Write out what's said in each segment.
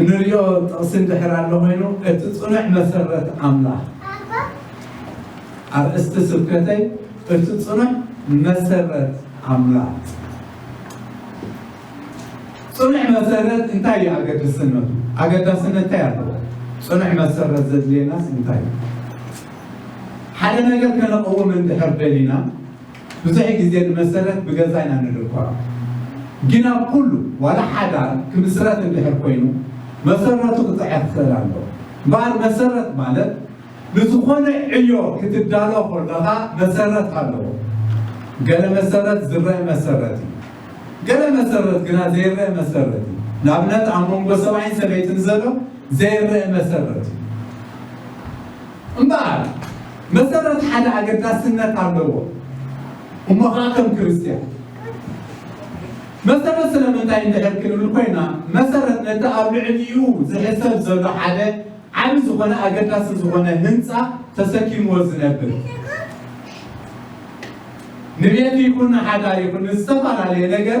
እንሪኦ ጥቕሲ እንድሕር ኣሎ ኮይኑ እቲ ፅኑዕ መሰረት ኣምላኽ ኣርእስቲ ስብከተይ እቲ ፅኑዕ መሰረት ኣምላኽ ፅኑዕ መሰረት እንታይ እዩ ኣገድስነቱ? ኣገዳስነት እንታይ ኣለዎ? ፅኑዕ መሰረት ዘድልየናስ እንታይ እዩ? ሓደ ነገር ከነቕውም እንድሕር ደሊና ብዙሕ ግዜ ንመሰረት ብገዛ ኢና ንድርኮራ ግን ኣብ ኩሉ ዋላ ሓዳር ክምስረት እንድሕር ኮይኑ መሰረቱ ክጽዕር ክኽእል ኣለዎ እምበኣር መሰረት ማለት ንዝኾነ ዕዮ ክትዳሎ ከሎኻ መሰረት ኣለዎ ገለ መሰረት ዝረእ መሰረት እዩ ገለ መሰረት ግና ዘይረእ መሰረት እዩ ንኣብነት ኣብ መንጎ ሰብኣይን ሰበይትን ዘሎ ዘይረእ መሰረት እዩ። እምበኣር፣ መሰረት ሓደ ኣገዳስነት ኣለዎ። እሞ ኸኣ ከም ክርስትያን መሰረት ስለምንታይ እንድሕር ክንብል ኮይና፣ መሰረት ነቲ ኣብ ልዕሊኡ ዝሕሰብ ዘሎ ሓደ ዓቢ ዝኾነ ኣገዳሲ ዝኾነ ህንጻ ተሰኪምዎ ዝነብር፣ ንቤት ይኹን ንሓዳር ይኹን ንዝተፈላለየ ነገር፣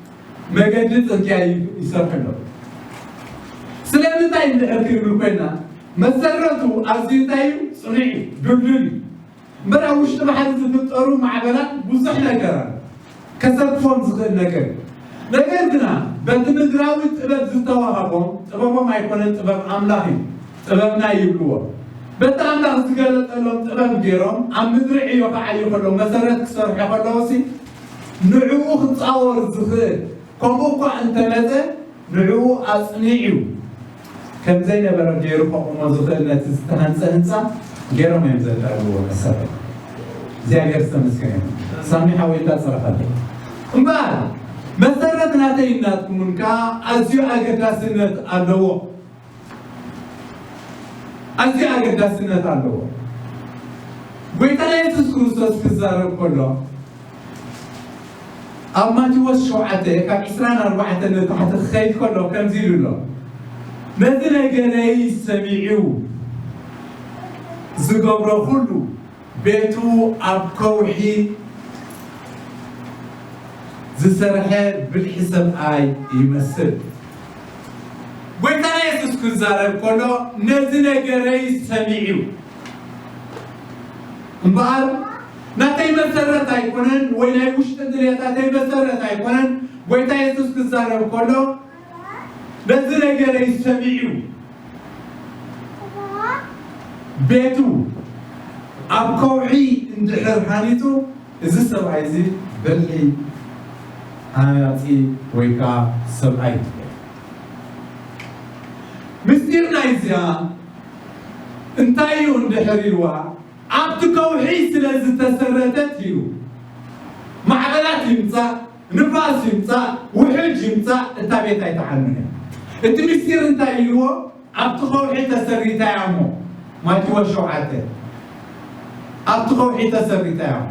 መገዲ ጽርግያ እዩ ይሰርሑ ኣለዉ። ስለምንታይ እንድሕር ክንብል ኮይና መሰረቱ ኣዝዩ እንታይ እዩ ጽኑዕ እዩ ድልዱል እዩ እምበር ኣብ ውሽጢ ባሕሪ ዝፍጠሩ ማዕበላት ብዙሕ ነገር ኣሎ ከሰክፎም ዝኽእል ነገር እዩ። ነገር ግና በቲ ምድራዊ ጥበብ ዝተዋሃቦም ጥበቦም ኣይኮነን ጥበብ ኣምላኽ እዩ ጥበብና ይብልዎ በቲ ኣምላኽ ዝገለጸሎም ጥበብ ገይሮም ኣብ ምድሪ ዕዮ ክዓዩ ከለዉ መሰረት ክሰርሑ ከለዉ ሲ ንዕኡ ክጻወር ዝኽእል ከምኡ እኳ እንተመጸ ንዕኡ ኣጽኒዑ ከም ዘይነበረ ገይሩ ከቑሞ ዝኽእል ነቲ ዝተሃንጸ ህንጻ ገይሮም እዮም ዘዳልውዎ መሰረት እግዚኣብሔር ዝተመስገነ ይኹን ሳሚ ሓወይ እንዳ ጸረፈለይ እምበኣር መሰረት ናተይን ናትኩምን ከኣ ኣዝዩ ኣገዳስነት ኣለዎ ኣዝዩ ኣገዳስነት ኣለዎ። ጎይታና የሱስ ክርስቶስ ክዛረብ ከሎ ኣብ ማቴዎስ ሸውዓተ ካብ ዕስራን ኣርባዕተን ንታሕቲ ክኸይድ ከሎ ከምዚ ኢሉ ኣሎ ነዚ ነገረይ ሰሚዑ ዝገብሮ ኩሉ ቤቱ ኣብ ከውሒ ዝሰርሐ ብልሒ ሰብኣይ ይመስል። ጎይታና የሱስ ክዛረብ ከሎ ነዚ ነገረይ ሰሚዑ እምበኣር ናተይ መሰረት ኣይኮነን ወይ ናይ ውሽጢ ድልየታተይ መሰረት ኣይኮነን ጎይታ የሱስ ክዛረብ ከሎ ነዚ ነገረይ ሰሚዑ ቤቱ ኣብ ከውሒ እንድሕር ሃኒጹ እዚ ሰብኣይ እዚ በሊ ሃናጺ ወይ ከኣ ሰብኣይ ትብል። ምስጢር ናይዚኣ እንታይ እዩ እንድሕር ኢልዋ ኣብቲ ከውሒ ስለ ዝተሰረተት ኢሉ ማዕበላት ይምጻእ ንፋስ ይምጻእ ውሕጅ ይምጻእ እታ ቤት ኣይትዓኑን እያ። እቲ ምስጢር እንታይ ኢልዎ ኣብቲ ከውሒ ተሰሪታያ እሞ ማቲዎስ ሸውዓተ ኣብቲ ከውሒ ተሰሪታያ እሞ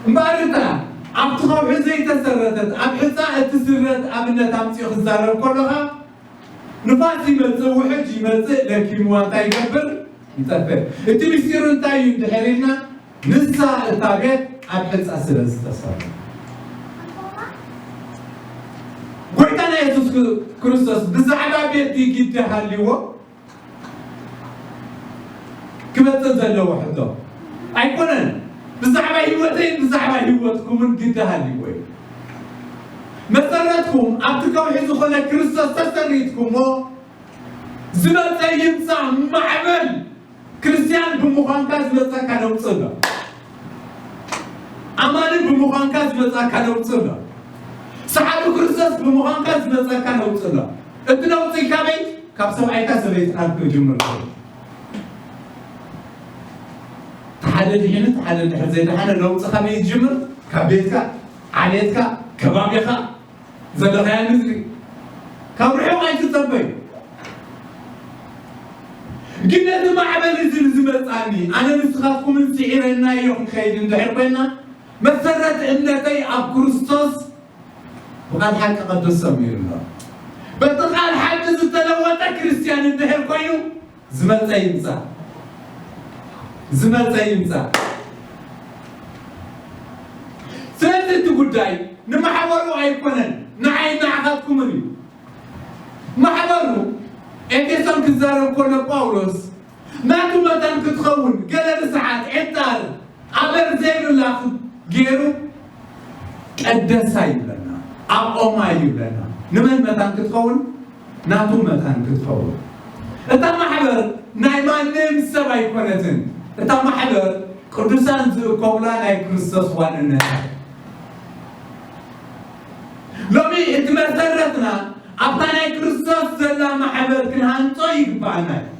እምበኣር እታ ኣብቲ ከውሒ ዘይተሰረተት ኣብ ሕጻ እትስረት ኣብነት ኣምጺኡ ክዛረብ ከሎኻ ንፋስ ይመጽእ ውሕጅ ይመጽእ ለኪምዋ እንታይ ይገብር ይጠፍእ እቲ ምስጢሩ እንታይ እዩ እንድሕር ኢልና ንሳ እታ ቤት ኣብ ሕንጻ ስለ ዝተሰርሐት። ጎይታና የሱስ ክርስቶስ ብዛዕባ ቤቲ ግዲ ሃልዎ ክመጽእ ዘለዎ ሕቶ ኣይኮነን። ብዛዕባ ህይወተይን ብዛዕባ ህይወትኩምን ግዲ ሃልዎ እዩ። መሰረትኩም ኣብቲ ከውሒ ዝኾነ ክርስቶስ ተሰሪትኩሞ ዝመጸ ይምጻእ ማዕበል ክርስትያን ብምዃንካ ዝመጸካ ለውጢ ኣሎ። ኣማኒ ብምዃንካ ዝመጻካ ለውጢ ኣሎ። ሰዓቢ ክርስቶስ ብምዃንካ ዝመጸካ ለውጢ ኣሎ። እቲ ለውጢ ካበይ? ካብ ሰብኣይካ ሰበይትካን ክጅምር እዩ። እቲ ሓደ ድሒኑ እቲ ሓደ ድሕሪ ዘይደሓነ ለውጢ ካበይ ዝጅምር? ካብ ቤትካ፣ ዓሌትካ፣ ከባቢኻ፣ ዘለኻያ ንዝሪ ካብ ርሑቕ ኣይትጸበዩ ግን ነዚ ማዕበል እዚ ንዝመጻኒ ኣነ ንስኻትኩምን ስዒረናዮ ክንከይድ እንድሕር ኮይና መሰረት እምነተይ ኣብ ክርስቶስ ብቓል ሓቂ ቅዱስ ሰሚሩ ኣሎ በቲ ቃል ሓቂ ዝተለወጠ ክርስትያን እንድሕር ኮይኑ ዝመጸ ይምጻእ ዝመጸ ይምጻእ ስለዚ እቲ ጉዳይ ንማሕበሩ ኣይኮነን ንዓይ ንዓኻትኩምን እዩ ማሕበሩ ኤፌሶን ክዛረብ ኮሎ ጳውሎስ ናቱ መታን ክትኸውን ገለ ርስዓት ዔንጣር ኣበር ዘይብላ ገይሩ ቀደሳ ይብለና ኣቆማ ይብለና ንመን መታን ክትኸውን ናቱ መታን ክትኸውን እታ ማሕበር ናይ ማንም ሰብ ኣይኮነትን እታ ማሕበር ቅዱሳን ዝእከቡላ ናይ ክርስቶስ ዋንነት ሎሚ እቲ መሰረትና ኣብታ ናይ ክርስቶስ ዘላ ማሕበር ክንሃንጾ ይግባኣና እዩ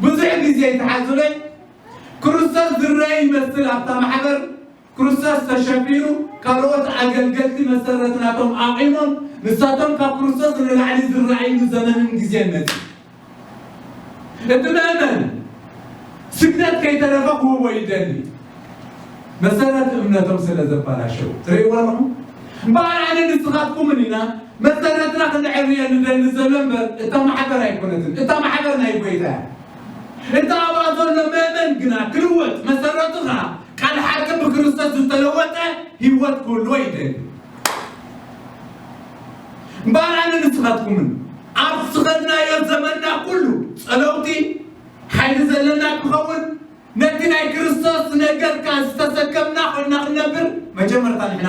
ብዙሕ ግዜ ተሓዝበ ክርስቶስ ዝረአ ይመስል ኣብታ ማሕበር ክርስቶስ ተሸፊኑ ካልኦት ኣገልገልቲ መሰረት ናቶም ኣቚሞም ንሳቶም ካብ ክርስቶስ ንላዕሊ ዝረኣይሉ ዘመንን ግዜን መጺኡ። እቲ መእመን ስግደት ከይተረፈ ክህቦ ይደሊ መሰረት እምነቶም ስለ ዘባላሸው ትርእይዎ ኣለኹም። እምበኣር ኣነ ንስኻትኩምን ኢና መሰረትና ክንዕርየ ንደሊ ዘሎ እምበር እታ ማሕበር ኣይኮነትን። እታ ማሕበር ናይ ጐይታ እያ። እታ ኣብኣ ዘሎ መእመን ግና ክልወጥ መሰረቱ ኸኣ ቃል ሓቂ ብክርስቶስ ዝተለወጠ ህይወት ክህልዎ ይደሊ እምበኣር ኣነ ንስኻትኩምን ኣብ ዝኸድናዮ ዘመንና ኩሉ ጸለውቲ ሓይሊ ዘለና ክኸውን ነቲ ናይ ክርስቶስ ነገርካ ዝተሰከምና ኮይና ክንነብር መጀመርታ ንሕና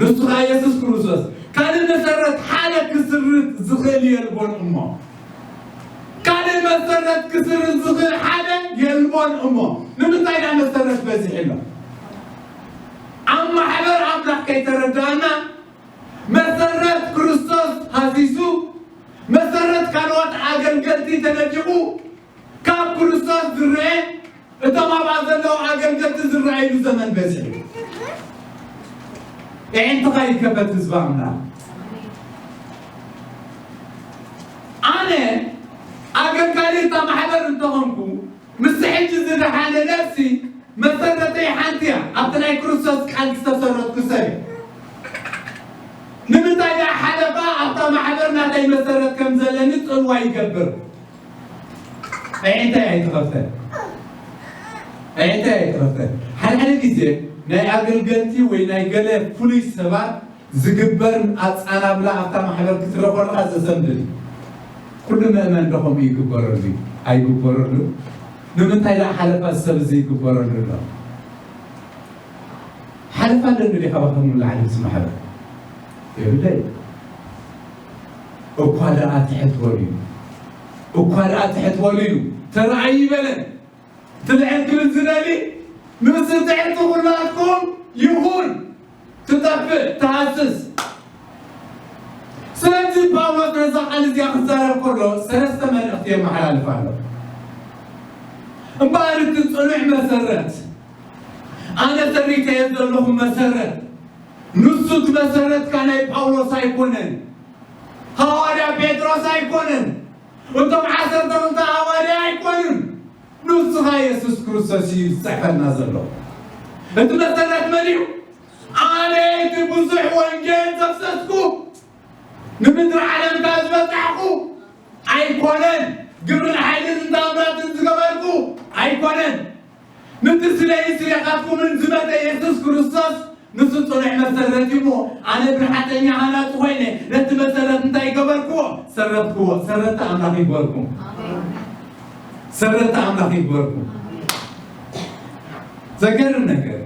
ንሱኻ የሱስ ክርስቶስ ካልእ መሰረት ሓደ ክስርዝ ዝኽእል የልቦን እሞ ካልእ መሰረት ክስርዝ ዝኽእል ሓደ የልቦን እሞ ንምንታይ ዳ መሰረት በዚሕ ኣሎ ኣብ ማሕበር ኣምላኽ ከይተረዳእና መሰረት ክርስቶስ ሃሲሱ መሰረት ካልኦት ኣገልገልቲ ተነዲቑ ካብ ክርስቶስ ዝረኤ እቶም ኣብኣ ዘለዉ ኣገልገልቲ ዝረኣይሉ ዘመን በዚሑ ኤንተኻ ይከበት ህዝቢ ኣምላኽ ኣነ ኣገልጋሊ እታ ማሕበር እንተኾንኩ ምስ ሕጂ ዝደሓነ ነፍሲ መሰረተይ ሓንቲ እያ ኣብቲ ናይ ክርስቶስ ቃል ዝተሰረትኩ ሰብ ንምንታይ ደኣ ሓለፋ ኣብታ ማሕበር ናተይ መሰረት ከም ዘለኒ ጽልዋ ይገብር ኣዒንተይ ኣይትኸፈል ኣዒንተይ ኣይትኸፈል ሓደ ሓደ ግዜ ናይ ኣገልገልቲ ወይ ናይ ገለ ፍሉይ ሰባት ዝግበር ኣጻናብላ ኣብታ ማሕበር ክትረ ኮለኻ ዘሰንብድ እዩ ኩሉ መእመን ዶ ከምኡ ይግበረሉ እዩ ኣይግበረሉ ንምንታይ ደኣ ሓለፋ ሰብ እዚ ይግበረሉ ኣሎ ሓለፋ ኣለኒ ዲኻ ባኸም ንላዕሊ ምስ ማሕበር የብለይ እኳ ደኣ ትሕት በሉ ኢሉ እኳ ደኣ ትሕት በሉ ኢሉ ተራእይ ይበለን እቲ ልዕል ክብል ዝደሊ ንሱ ትሕቲ ኩላትኩም ይኹን ትጠፍእ ትሃስስ ስለዚ ጳውሎስ ነዛ ቃል እዚኣ ክዛረብ ከሎ ሰለስተ መልእኽቲ የመሓላልፍ ኣሎ እምበኣር እቲ ፅኑዕ መሰረት ኣነ ተሪከየ ዘለኹ መሰረት ንሱ እቲ መሰረትካ ናይ ጳውሎስ ኣይኮነን ሃዋርያ ጴጥሮስ ኣይኮነን እቶም ዓሰርተ ክልተ ሃዋርያ ኣይኮኑን ንስኻ የሱስ ክርስቶስ እዩ ዝጽሕፈልና ዘሎ እቲ መሰረት መን እዩ ኣነ እቲ ብዙሕ ወንጌል ዘፍሰስኩ ንምድሪ ዓለምካ ዝበጻሕኩ ኣይኮነን ግብርን ሓይልን እንታምራትን ዝገበርኩ ኣይኮነን ምትስለይ ስሬኻትኩምን ዝመተ የሱስ ክርስቶስ ንሱ ጽኑዕ መሰረት እዩ እሞ ኣነ ብልሓተኛ ሃናጺ ኮይነ ነቲ መሰረት እንታይ ገበርክዎ ሰረትክዎ ሰረቲ ኣምላኽ ይግበርኩም ሰረቲ ኣምላኽ ይግበርኩም ዘገርም ነገር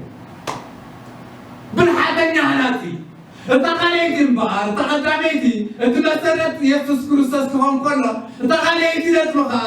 ብልሓተኛ ሃናጺ እታ ካልኣይቲ እምበኣር እታ ቀዳመይቲ እቲ መሰረት የሱስ ክርስቶስ ክኾን ከሎ እታ ካልኣይቲ ነጥቢ ከዓ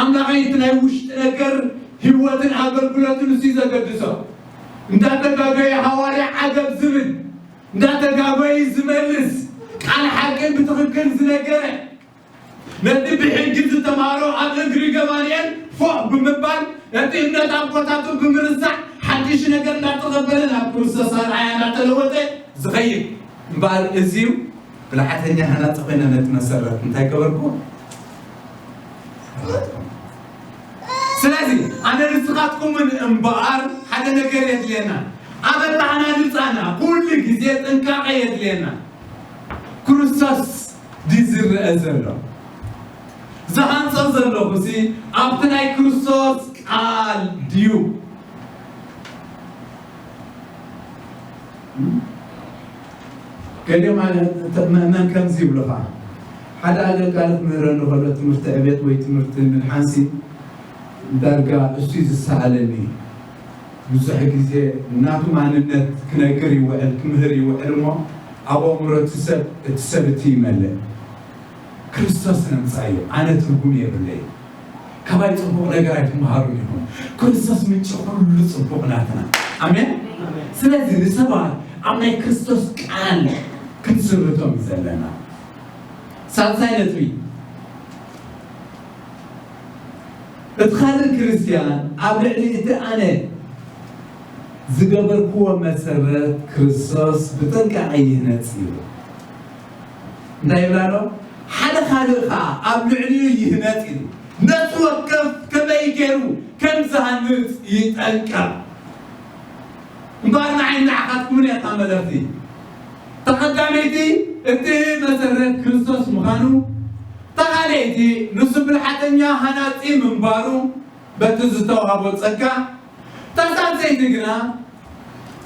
ኣምላኸይ እቲ ናይ ውሽጢ ነገር ህይወትን ኣገልግሎትን እሱዩ ዘገድሶ እንዳተጋገየ ሃዋርያ ዓገብ ዝብል እንዳተጋጎየ ዝመልስ ቃል ሓቂ ብትኽክል ዝነገረ ነቲ ብሕጊ ዝተማህሮ ኣብ እግሪ ገማልኤል ፎእ ብምባል ነቲ እምነት ኣቦታቱ ብምርሳዕ ሓድሽ ነገር እንዳተቐበለ ናብ ክርስቶስ ኣርኣያ እንዳተለወጠ ዝኸይድ እምበኣር እዚዩ ብልሓተኛ ሃናጺ ኮይነ ነቲ መሰረት እንታይ ገበርኩዎ? ሃነጽኩዎ። ስለዚ ኣነ ንስኻትኩምን እምበኣር ሓደ ነገር የድልየና፣ ኣብ ኣተሃናንጻና ኩሉ ግዜ ጥንቃቐ የድልየና። ክርስቶስ ድዩ ዝረኣ ዘሎ? ዝሃንጾ ዘለኹሲ ኣብቲ ናይ ክርስቶስ ቃል ድዩ? ገሊኦም መእመን ከምዚ ይብሉኻ፣ ሓደ ኣገልጋሊ ክምህረኒ ከሎ ትምህርቲ ዕቤት ወይ ትምህርቲ ምድሓንሲ ዳርጋ እሱይ ዝሰኣለኒ እዩ። ብዙሕ ግዜ ናቱ ማንነት ክነግር ይውዕል፣ ክምህር ይውዕል እሞ ኣብ ኣእምሮ እቲ ሰብ እቲ ሰብ እቲ ይመልእ። ክርስቶስ ነምጻዮ ኣነ ትርጉም የብለይን። ካባይ ጽቡቅ ነገር ኣይትመሃሩን ኢኹም ክርስቶስ ምንጪ ኩሉ ጽቡቅ ናትና ኣሜን ስለዚ ንሰባት ኣብ ናይ ክርስቶስ ቃል ክንስርቶም እዩ ዘለና ሳልሳይ ነጥቢ እቲ ካልእ ክርስትያን ኣብ ልዕሊ እቲ ኣነ ዝገበርክዎ መሰረት ክርስቶስ ብጥንቃቄ ይህነጽ እዩ እንታይ ይብል ኣሎ? ሓደ ካልእ ከኣ ኣብ ልዕሊኡ ይህነጽ ኢሉ ነፍሲ ወከፍ ከመይ ገይሩ ከም ዝሃንጽ ይጠንቀቕ። እምበኣር ንዓይን ንዓኻትኩምን እያ እታ መልእኽቲ። እታ ቀዳመይቲ እቲ መሰረት ክርስቶስ ምዃኑ፣ እታ ካልኣይቲ ንሱ ብልሓተኛ ሃናጺ ምንባሩ በቲ ዝተዋህቦ ጸጋ ተሳተይቲ ግና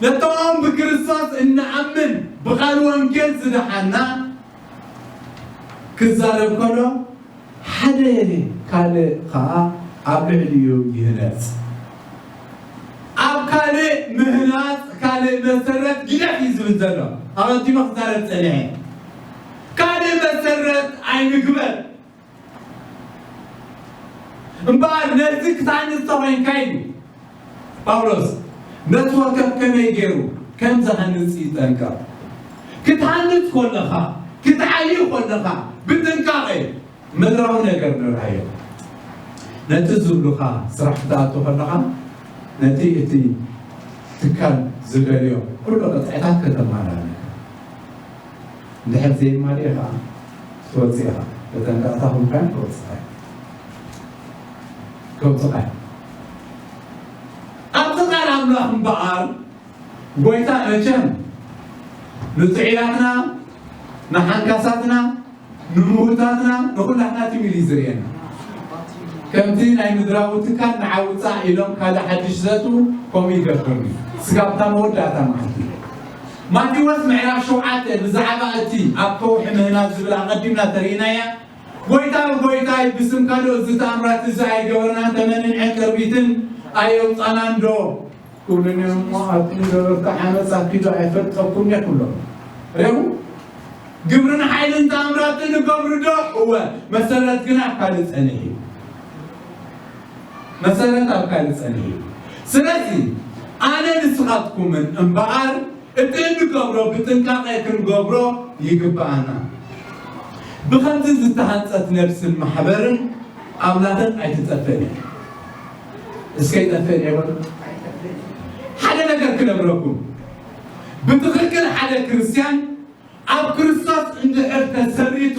ነቶም ብክርስቶስ እንኣምን ብቃል ወንጌል ዝደሓና ክዛረብ ከሎ ሓደ ካልእ ከኣ ኣብ ልዕሊኡ ይህነጽ። ኣብ ካልእ ምህናጽ ካልእ መሰረት ጊደፍ እዩ ዝብል ዘሎ። ኣቐዲመ ክዛረብ ጸኒሐ ካልእ መሰረት ኣይንግበር። እምበኣር ነዚ ክትሃንጽ እንተ ዄንካ ኢሉ ጳውሎስ ነቲ ወከፍ ከመይ ገይሩ ከም ዝሃንጽ ይጠንቀቕ። ክትሃንጽ ከለኻ፣ ክትዓዪ ከለኻ ብጥንቃቐ ምድራዊ ነገር ንርኣዮ። ነቲ ዝብሉኻ ስራሕ ክትኣቱ ከለኻ ነቲ እቲ ትካል ዝደልዮ ኩሉ ቅጥዕታት ከተማላእ ኣለካ። እንድሕር ዘይማልኤ ከኣ ክትወጽእ ኢኻ ተጠንቀቕታ ኮንካን ከውጽኻዮ ከውጽኻዮ ኣብቲ ቃል ኣምላኽ እምበኣር ጎይታ መቸም ንጥዑያትና ንሓንካሳትና ንምውታትና ንኹላትና ትሚል እዩ ዝርእየና ከምቲ ናይ ምድራዊ ትካል ንዓ ውፃእ ኢሎም ካልእ ሓድሽ ዘእትዉ ከምኡ ይገብርኒ ስጋብታ መወዳእታ ማለት እዩ ማቴዎስ ምዕራፍ ሸውዓተ ብዛዕባ እቲ ኣብ ከውሒ ምህናጽ ዝብል ኣቐዲምና ተርኢናያ። ጐይታ ንጐይታይ ብስም ካልኦት እዚ ተኣምራት እዚ ኣይገበርናን፣ ተመንን ዕንቅርቢትን ኣየውጻእናንዶ? ክብሉ ነይሮም እሞ ኣብቲ ንገበርቲ ዓመጽ ኣኪዶ ኣይፈልጠኩምን'የ ክብሎም ርኢኹም። ግብርን ሓይልን ተኣምራትን እገብርዶ? እወ፣ መሰረት ግና ካልእ ጸኒሕ'ዩ። መሰረት ኣብ ካልእ ጸኒሑ እዩ። ስለዚ ኣነ ንስኻትኩምን እምበኣር እቲ እንገብሮ ብጥንቃቐ ክንገብሮ ይግብኣና። ብኸምዚ ዝተሃንጸት ነብስን ማሕበርን ኣምላኽን ኣይትጠፍእን እያ። እስከ ይጠፍእን እየ በሉ። ሓደ ነገር ክነግረኩም፣ ብትኽክል ሓደ ክርስትያን ኣብ ክርስቶስ እንድሕር ተሰሪቱ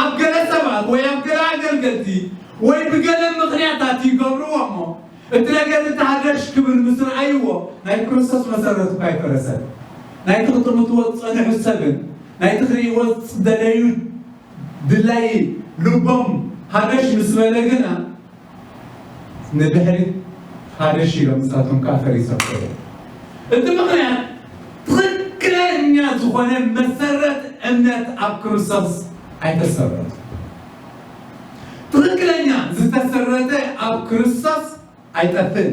ኣብ ገለ ሰባት ወይ ኣብ ገለ ኣገልገልቲ ወይ ብገለ ምኽንያታት ይገብርዎ እሞ እቲ ነገር እቲ ሃደሽ ክብል ምስ ረኣይዎ ናይ ክርስቶስ መሰረት እኳ ኣይፈረሰን። ናይቲ ክትምትዎ ዝጸንሑ ሰብን ናይቲ ክርእይዎ ዝደለዩ ድላዪ ልቦም ሃደሽ ምስ በለ ግና ንድሕሪት ሃደሽ ኢሎም ንሳቶም ከኣ ፈሪሶም ከይዶም። እቲ ምኽንያት ትኽክለኛ ዝኾነ መሰረት እምነት ኣብ ክርስቶስ ኣይተሰረቱን። ትኽክለኛ ዝተሰረተ ኣብ ክርስቶስ ኣይጠፍእን።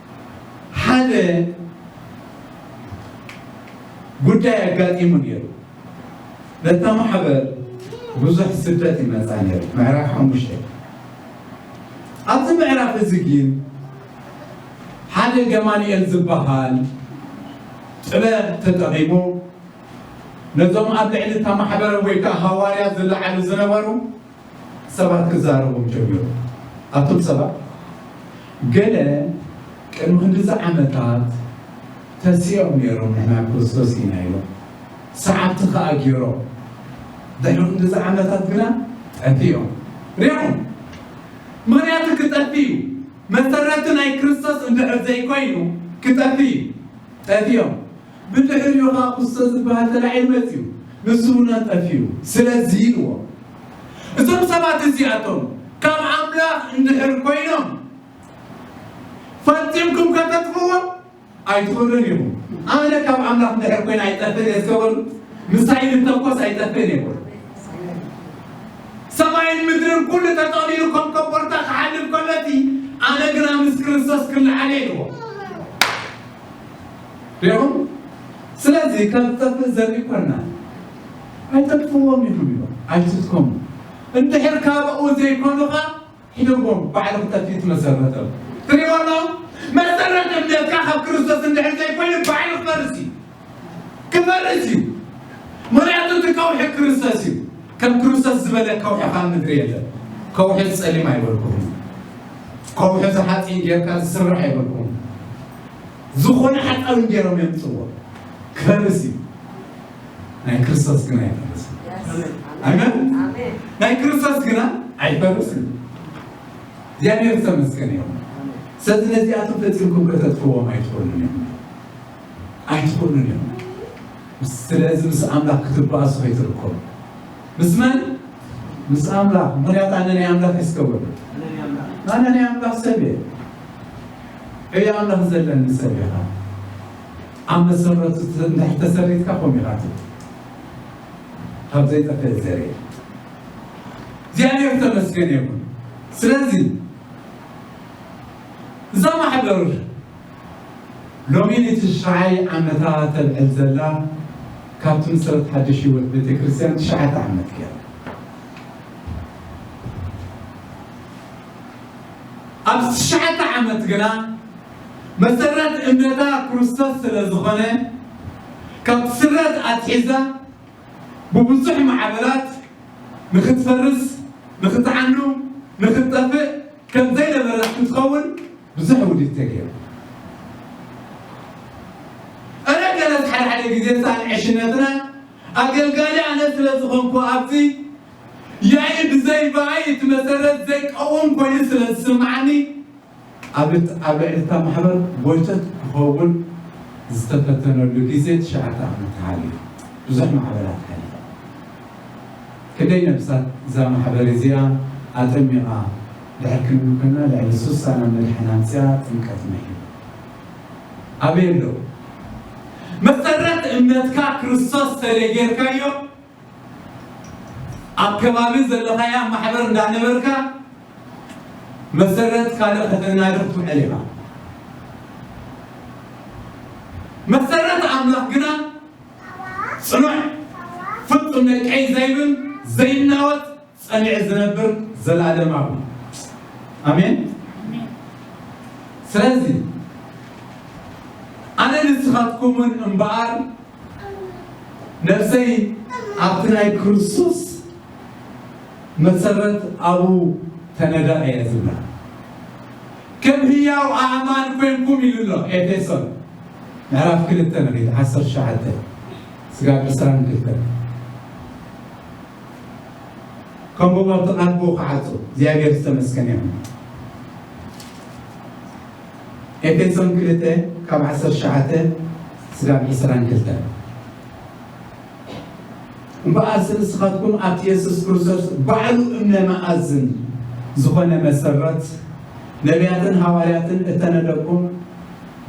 ሓደ ጉዳይ ኣጋጢሙ ነይሩ። ነታ ማሕበር ብዙሕ ስደት ይመፃ ነይሩ። ምዕራፍ ሓሙሽተ ኣብዚ ምዕራፍ እዚ ግን ሓደ ገማንኤል ዝበሃል ጥበብ ተጠቂሙ ነዞም ኣብ ልዕሊ እታ ማሕበረ ወይ ከዓ ሃዋርያ ዝለዓሉ ዝነበሩ ሰባት ክዛረቡ ጀሚሩ። ኣቱም ሰባት ገለ ቅድሚ ክንድዚ ዓመታት ተሲኦም ነይሮም ንሕና ክርስቶስ ኢና ኢሎም ሰዓብቲ ከኣ ገይሮም ድሕሪ ክንድዚ ዓመታት ግና ጠፊኦም ሪኢኹም ምኽንያቱ ክጠፍእ እዩ መሰረቱ ናይ ክርስቶስ እንድሕር ዘይኮይኑ ክጠፍእ እዩ ጠፊኦም ብድሕሪኡ ኸኣ ኩሰ ዝበሃል ተላዒሉ መጺኡ ንሱ እውን ኣጠፊኡ። ስለዚ ኢልዎ እዞም ሰባት እዚኣቶም ካብ ኣምላኽ እንድሕር ኮይኖም ፈጺምኩም ከተጥፍእዎም ኣይትኽእሉን ኢኹም። ኣነ ካብ ኣምላኽ እንድሕር ኮይነ ኣይጠፍእን እየ እስከ በሉ። ምሳይ ዝተኮስ ኣይጠፍእን እየ በሉ። ሰማይን ምድርን ኩሉ ተጠቕሊሉ ከም ኮቦርታ ክሓልፍ ከሎ እቲ ኣነ ግና ምስ ክርስቶስ ክለዓል እየ ኢልዎ። ሪኹም ስለዚ ከም ዝጠፍእ ዘርኢ ኮና ኣይተጥፍዎም ኢኹም ኢሎም ኣይትትከሙ እንድሕር ካብኡ ዘይኮኑኻ ሒደዎም ባዕሉ ክጠፍእ ትመሰረተ ትሪእዎ ኣሎ መሰረት እምነትካ ካብ ክርስቶስ እንድሕር ዘይኮይኑ ባዕሉ ክፈርስ እዩ ክፈርስ እዩ ምክንያቱ እቲ ከውሒ ክርስቶስ እዩ ከም ክርስቶስ ዝበለ ከውሒ ካብ ምድሪ የለን ከውሒ ፀሊም ኣይበልኩም ከውሒ ዝሓፂን ጌርካ ዝስራሕ የብልኩም ዝኾነ ሓፃዊን ጌሮም የምፅዎ ክፈርስ እዩ ናይ ክርስቶስ ግና ኣይፈርስን ኣሜን ናይ ክርስቶስ ግና ኣይፈርስን እግዚኣብሔር ዝተመስገነ ይኹን ስለዚ ነዚኣቶም ፈፂምኩም ከተጥፍዎም ኣይትኽእሉን እዮም ኣይትኽእሉን እዮም ስለዚ ምስ ኣምላኽ ክትባእሱ ከይትርከቡ ምስ መን? ምስ ኣምላኽ። ምኽንያቱ ኣነ ናይ ኣምላኽ እየ ዝገብሮ። ኣነ ናይ ኣምላኽ ሰብ እየ። ዕዮ ኣምላኽ ዘለኒ ሰብ እየ ኸኣ። ኣብ መሰረቱ እንድሕር ተሰሪትካ ከምኡ ኢኻ ትብል ካብ ዘይጠፍእ ዘርኢ እግዚኣብሔር ተመስገን ይኹን። ስለዚ እዛ ማሕበር ሎሚ ንትሽዓይ ዓመታ ተብዕል ዘላ ካብቲ ምሰረት ሓድሽ ህይወት ቤተክርስትያን ትሽዓተ ዓመት ገይራ። ኣብዚ ትሽዓተ ዓመት ግና መሰረት እምነታ ክርስቶስ ስለ ዝኾነ ካብቲ ስረት ኣትሒዛ ብብዙሕ ማዕበላት ንኽትፈርስ፣ ንኽትዓኑ፣ ንኽትጠፍእ ከም ዘይነበረት ክትኸውን ብዙሕ ውዲት ተገይሩ እረ ገለ ሓደ ሓደ ግዜ ሳን ዕሽነትና ኣገልጋሊ ኣነ ስለ ዝኾንኩ ኣብዚ ያኢ ብዘይ ባኣይ እቲ መሰረት ዘይቀውም ኮይኑ ስለ ዝስምዓኒ ኣብ ኣብ ልዕሊ እታ ማሕበር ጎይቶት ክኸውን ዝተፈተነሉ ግዜ ትሽዓተ ዓመት ሓሊፉ ብዙሕ ማሕበራት ሓሊፉ ክንደይ ነብሳት እዛ ማሕበር እዚኣ ኣጠሚቓ ድሕር ክንብል ኮና ልዕሊ ሱሳ ናብ መድሕን ኣምጺኣ ጥምቀት ምሒሩ ኣበይ ኣሎ መሰረት እምነትካ ክርስቶስ ሰለ ጌርካዮ ኣብ ከባቢ ዘለኻያ ማሕበር እንዳነበርካ መሰረት ካልእ ከተናድር ትውዕል ኢኻ መሰረት ኣምላኽ ግና ጽኑዕ ፍጹም ነቀይ ዘይብል ዘይናወጽ ጸኒዑ ዝነብር ዘልኣለማዊ ኣሜን ስለዚ ኣነ ንስኻትኩምን እምበኣር ነፍሰይ ኣብቲ ናይ ክርስቶስ መሰረት ኣብኡ ተነደቐ እየ ዝብላ ከም ህያው ኣእማን ኮይንኩም ኢሉ ኣሎ ኤፌሶን ምዕራፍ ክልተ መሬት ዓሰርተ ሸውዓተ ስጋብ ዕስራን ክልተን ከምኡ ሞ እቲ ኣቦ ክዓጹ እግዚኣብሔር ዝተመስገነ ይኹን። ኤፌሶን ክልተ ካብ ዓሰርተ ትሽዓተ ስጋብ ዕስራን ክልተን እምበኣርሲ ንስኻትኩም ኣብቲ የሱስ ክርስቶስ ባዕሉ እምነ መኣዝን ዝኾነ መሰረት ነቢያትን ሃዋርያትን እተነደኩም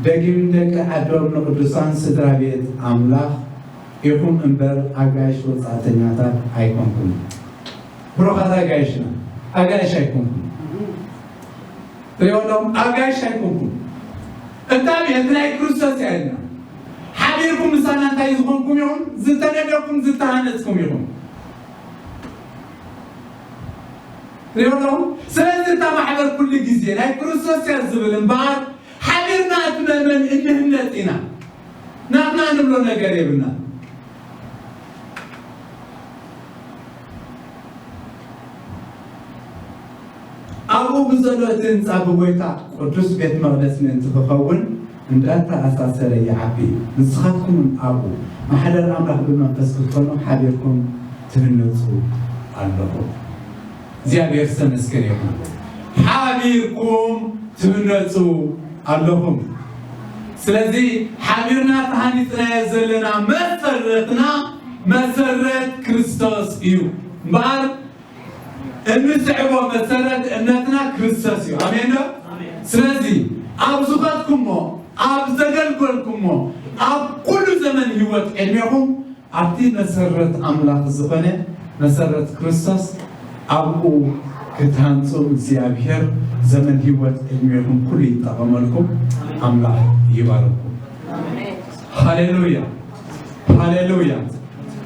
ደጊም ደቂ ዓዶም ንቅዱሳን ስድራ ቤት ኣምላኽ ኢኹም እምበር ኣጋይሽ ወጻእተኛታት ኣይኮንኩምን። ብሩኻት ኣጋይሽና ኣጋይሽ ኣይኮንኩምን። ሪኦ ኣለኹም ኣጋይሽ ኣይኮንኩምን። እታ ቤት ናይ ክርስቶስ እያ ኢልና ሓቢርኩም ምሳና እንታይ ዝኾንኩም ኢኹም? ዝተነደኩም ዝተሃነጽኩም ኢኹም። ሪኦ ኣለኹም ስለዚ እታ ማሕበር ኩሉ ግዜ ናይ ክርስቶስ እያ ዝብል እምበኣር ሓቢርና እትመመን እንህነጽ ኢና ናትና ንብሎ ነገር የብልና። ኣብኡ ብዘሎ እቲ ህንፃ ብጎይታ ቅዱስ ቤት መቕደስ ምእንቲ ክኸውን እንዳተኣሳሰረ ይዓቢ እዩ። ንስኻትኩም እውን ኣብኡ ማሕደር ኣምላኽ ብመንፈስ ክትኮኑ ሓቢርኩም ትህነፁ ኣለኹም። እግዚኣብሔር ዝተመስገነ ይኹን ሓቢርኩም ትህነፁ ኣለኹም ስለዚ ሓቢርና ተሃኒፅናዮ ዘለና መሰረትና መሰረት ክርስቶስ እዩ እምበኣር እንስዕቦ መሰረት እምነትና ክርስቶስ እዩ ኣሜን ዶ ስለዚ ኣብ ዝኸድኩሞ ኣብ ዘገልገልኩሞ ኣብ ኩሉ ዘመን ህይወት ዕድሜኹም ኣብቲ መሰረት ኣምላኽ ዝዀነ መሰረት ክርስቶስ ኣብኡ ክትሃንጹ እግዚኣብሄር ዘመን ህይወት ዕድሜኹም ኩሉ ይጠቐመልኩም ኣምላኽ ይባርኩም ሃሌሉያ ሃሌሉያ።